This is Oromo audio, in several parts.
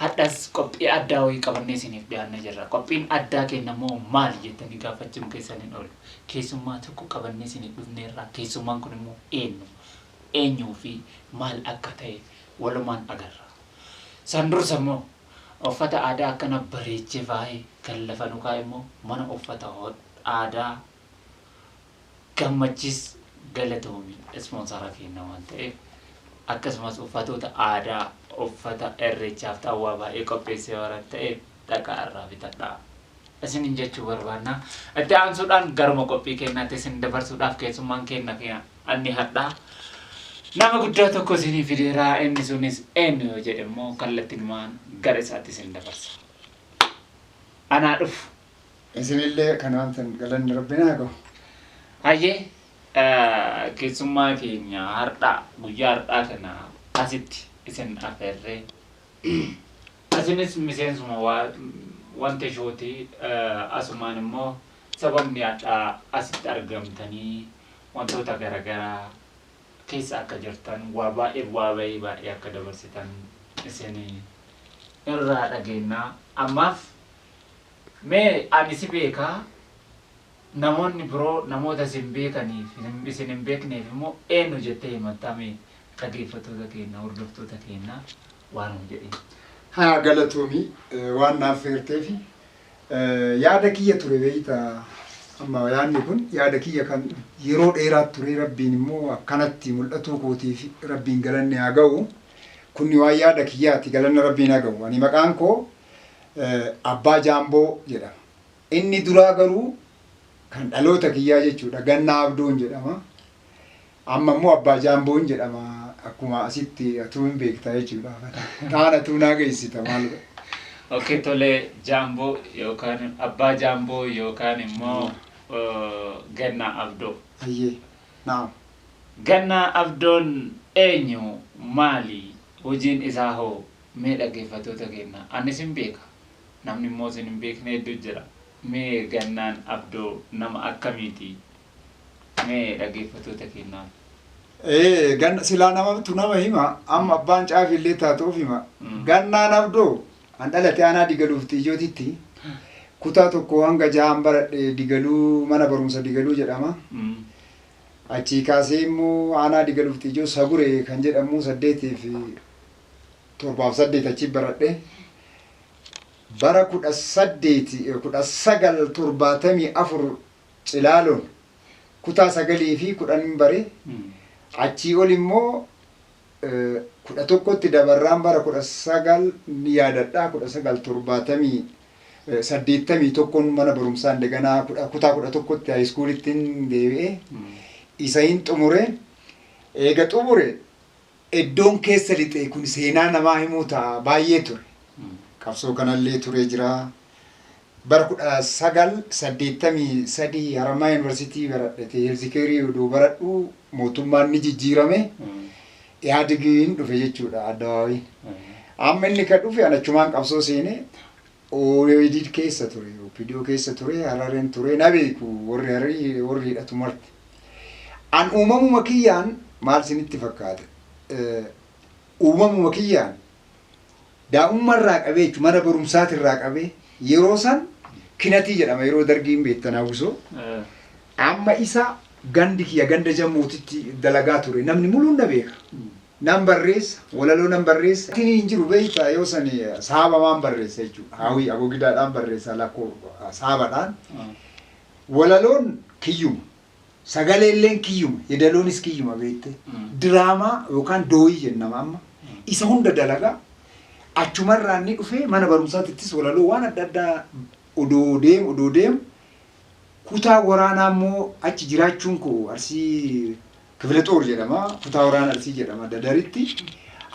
Hardhas qophii addaa wayii qabannee isiniif dhiyaannee jirra. Qophiin addaa keenya immoo maali jettanii gaafachuun keessan hin oolu. Keessummaa tokko qabannee isiniif dhufneerra. Keessummaan kun immoo eenyu? Eenyuu fi maal akka ta'e walumaan agarra. San dursa immoo uffata aadaa akkana bareechee faayee kan lafa nu kaa'e immoo mana uffata aadaa Gammachis galatoomi ispoonsara keenna waan ta'eef akkasumas uffatoota aadaa uffata irreechaaf xaawwaa baay'ee qopheessee waran ta'eef dhaqaa irraa bitadhaa isinin jechuu barbaanna. Itti aansuudhaan garuma qophii keennaatti isin dabarsuudhaaf keessummaan keenna fi anni hadhaa nama guddaa tokko isinii fideera inni sunis eenyu yoo jedhe immoo kallattinumaan gara isaatti isin dabarsa. Anaa dhufu. Isinillee kan aamtan galanni Rabbiin haa gahu. Hayyee keessummaa keenya hardhaa guyyaa hardhaa kana asitti isin afeerree isinis miseensuma wanta shooti asumaan immoo sababni hadhaa asitti argamtanii wantoota garagaraa keessa akka jirtan waa baay'ee bu'aa bahii baay'ee akka dabarsitan isin irraa dhageennaa ammaaf Mee ani si beeka, namoonni biroo namoota isin beekaniif, isin hin beekneef immoo eennu jettee himattaa mee dhaggeeffattoota keenya, hordoftoota keenya waan nuu jedhiin. Haa galatoomi waan na affeerteef. Yaada kiyya ture beekta amma yaadni kun yaada kiyya kan yeroo dheeraa ture rabbiin immoo akkanatti mul'atuu kootiif rabbiin galanni haa ga'u. Kunni waan yaada kiyyaati galanna rabbiin haa ga'u. Ani maqaan koo Abbaa Jaamboo jedhama. Inni duraa garuu kan dhaloota kiyyaa jechuudha. Gannaa Abdoon jedhama. Amma immoo Abbaa Jaamboon jedhama. Akkuma asitti atuu hin beektaa jechuudha. Kaan atuu naa geessita maal godha. Okkee tolee Jaamboo yookaan Abbaa Jaamboo yookaan immoo Gannaa Abdoo. Ayyee. Naam. Gannaa Abdoon eenyu maali hojiin isaa hoo Mee dhaggeeffattoota keenna an isin beeka namni immoo isin hin beekne hedduu jira mee Gannaan Abdoo nama akkamiiti mee dhaggeeffattoota keennaaf. Ee ganna silaa namatu nama hima amma abbaan caafi illee taatu of hima Gannaan Abdoo an dhalate aanaa Digaluuf Xiijootitti kutaa tokko hanga jahaan baradhe Digaluu mana barumsa Digaluu jedhama achii kaasee immoo aanaa Digaluuf Xiijoo Sagure kan jedhamu saddeetiif torbaa fi saddeet achi baradhe. Bara kudha saddeeti kudha sagal torbaatamii afur cilaaloon kutaa sagalii fi kudhanin bare. Achii ol immoo eh, kudha tokkotti dabarraan bara kudha sagal ni yaadadha kudha sagal torbaatamii eh, saddeettamii tokkon mana barumsaan deganaa kudha- kutaa kudha tokkotti haayiskuulittiin deebi'e. Isa hin xumure. Eega xumure Eddoon keessa lixe kun seenaa namaa himuu ta'a baay'ee ture. Qabsoo kanallee turee jira. Bara 1983 Harammayaa Yuunivarsiitii baradhete heelzikeerii odoo baradhu mootummaan ni jijjiirame. Ihaadigiin dhufe jechuudha addabaabayiin. Amma inni ka dhufe an achumaan qabsoo seene Oedid keessa ture, opdo keessa ture, Hararen ture, na beeku warri Hararii, warri hidhatu marti. An uumamuma kiyyaan maal sinitti fakkaata? Uumamuma kiyyaan daa'umma irraa qabee jechuun mana barumsaati irraa qabee yeroo san kinatii jedhama yeroo dargiin beektan hawwisoo. Amma isa gandi kiyya ganda jammuutitti dalagaa ture namni muluun na beeka. Nan barreessa, walaloo nan barreessa. Tini hin jiru beektaa yoo sani saabamaan barreessa jechuudha. Haawii agogidaadhaan barreessa lakkoo saabadhaan. Walaloon kiyyuma. Sagaleelleen kiyyuma. Yeedaloonis kiyyuma beektee. Diraamaa yookaan dooyii jennama amma. Isa hunda dalagaa achumarraa inni dhufee mana barumsaatittis walaloo waan adda addaa odoo deemu odoo deemu kutaa waraanaa immoo achi jiraachuun koo arsii Kifile Xoor jedhama. Kutaa Waraana Arsii jedhama Dadaritti.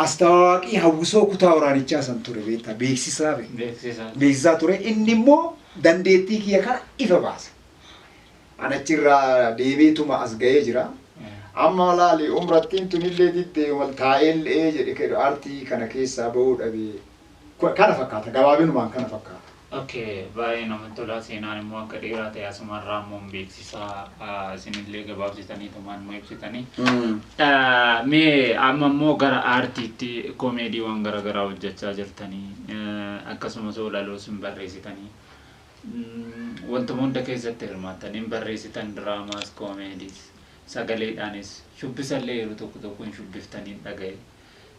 Astawaaqii hawwisoo kutaa waraanichaa san ture beektaa beeksisaa be- Beeksisaa. beeksisaa ture. Inni immoo dandeettii kiyya kana ifa baase. An achirraa deebiituma as ga'ee jira. Amma laali umrattiin tunillee diddee mal taa'ellee jedhe kedhu artii kana keessaa ba'uu dhabe. Ku- Kana fakkaata gabaabinumaan kana fakkaata. ok baayee namatti tolaa seenaan immoo akka dheeraa ta'e asuma irraa immoo hin beeksisaa isinillee gabaabsitaniitumaan nu ibsitanii mee amma immoo gara aartiitti koomeediiwwan garaagaraa hojjechaa jirtanii akkasumas oolaloos hin barreessitanii wantuma hunda keessatti hirmaattan hin barreessitan diraamaas koomeediis sagaleedhaanis shubbisallee yeroo tokko tokko hin shubbiftanii dhaga'e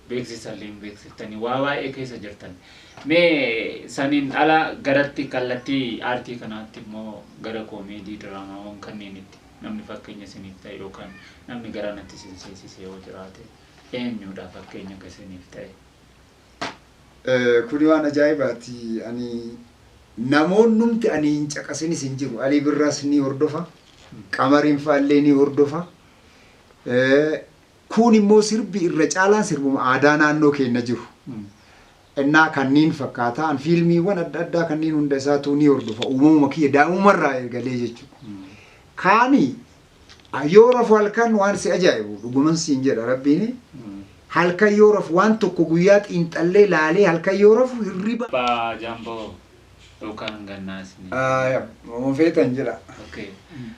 beeksisa illee hin beeksiftani waa baay'ee keessa jirtan mee saniin ala garatti kallattii aartii kanaatti immoo gara koomeedii diraamaawwan kanneenitti namni fakkeenya isiniif ta'e yookaan namni gara natti isin seensise yoo jiraate eenyuudha fakkeenya ka isiniif ta'e Kuni waan ajaa'ibaati. Ani namoonnumti ani hin caqasinis hin jiru. Alii Birraas ni hordofa. Qamariin faallee ni hordofa. Kuun immoo sirbi irra caalaan sirbuma aadaa naannoo keenna jiru ennaa kanniin fakkaataa an fiilmiiwwan adda addaa kanniin hunda isaatuu ni hordofa uumamuma kiyya daa'imumma irraa eegalee jechuu kaani yoo rafu halkan waan si ajaa'ibu dhuguman siin jedha rabbiini halkan yoo rafu waan tokko guyyaa xiinxallee laalee halkan yoo rafu hirriba Abbaa Jamboo yookaan gannaa isiniin Aaya, jedhama. wama feetan jedha. Okay.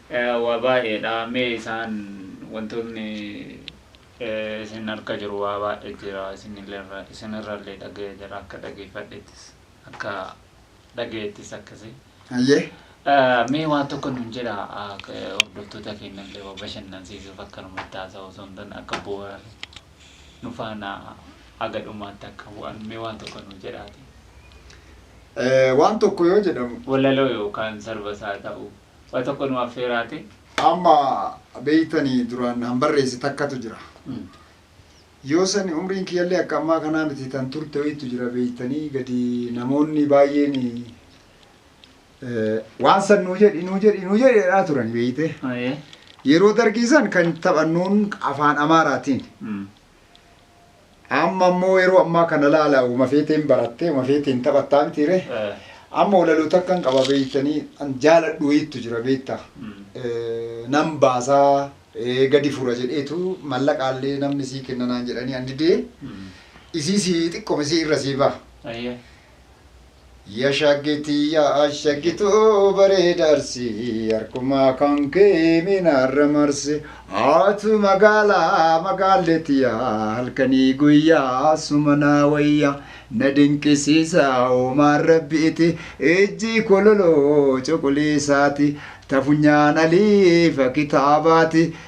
Eh, Waa baay'eedha. Mee isaan wantoonni eh, isin harka jiru waa baay'ee jira. Isinillee- Isinirrallee dhaga'ee jira. Akka dhageeffadhettis akka dhaga'ettis akkasii. Hayyee. Eh, Mee waan tokko nuun jedha ah, eh, hordoftoota keenyallee waa bashannansiisuuf akkanumatti haasa'u osoo hin taane akka bu'uura nu faana haga dhumaatti akka bu'an mee waan tokko nuu jedhaati. Waan tokko yoo jedhamu. Walaloo yookaan sarba isaa ta'u waa tokko nu affeeraati. Amma beeytanii duraan han barreesse takkatu jira. Yoo sani umriin kiyyallee akka ammaa kanaa miti tan turte wayiitu jira beeytanii gadi namoonni baay'een Eh, waan san nuu jedhi nuu jedhi nuu jedhi jedhaa turan beeyte Ayee. yeroo dargii san kan taphannuun afaan amaaraatiin Mm. amma immoo yeroo ammaa kana laala uma feeteen barattee uma feeteen taphattaa mitiire Eh. amma walaloota akkan qaba beeytanii an jaaladhu wayiittu jira beeyta Mm. Eh, nan baasaa eh, gadi fura jedheetu mallaqaallee namni sii kenna naan jedhanii an didee Mm. isii sii xiqqome sii irra sii baha Ayee. Ya shaggi tiyya shaggi too bareeda arsii Harkumaa kan kee mee naarra marsi Atu magaala magaalle tiyya halkanii guyya suma naa wayya Na dinqisiisa uumaan rabbiiti ijji kololo cuquliisaati Ta funyaan aliifa kitaabaati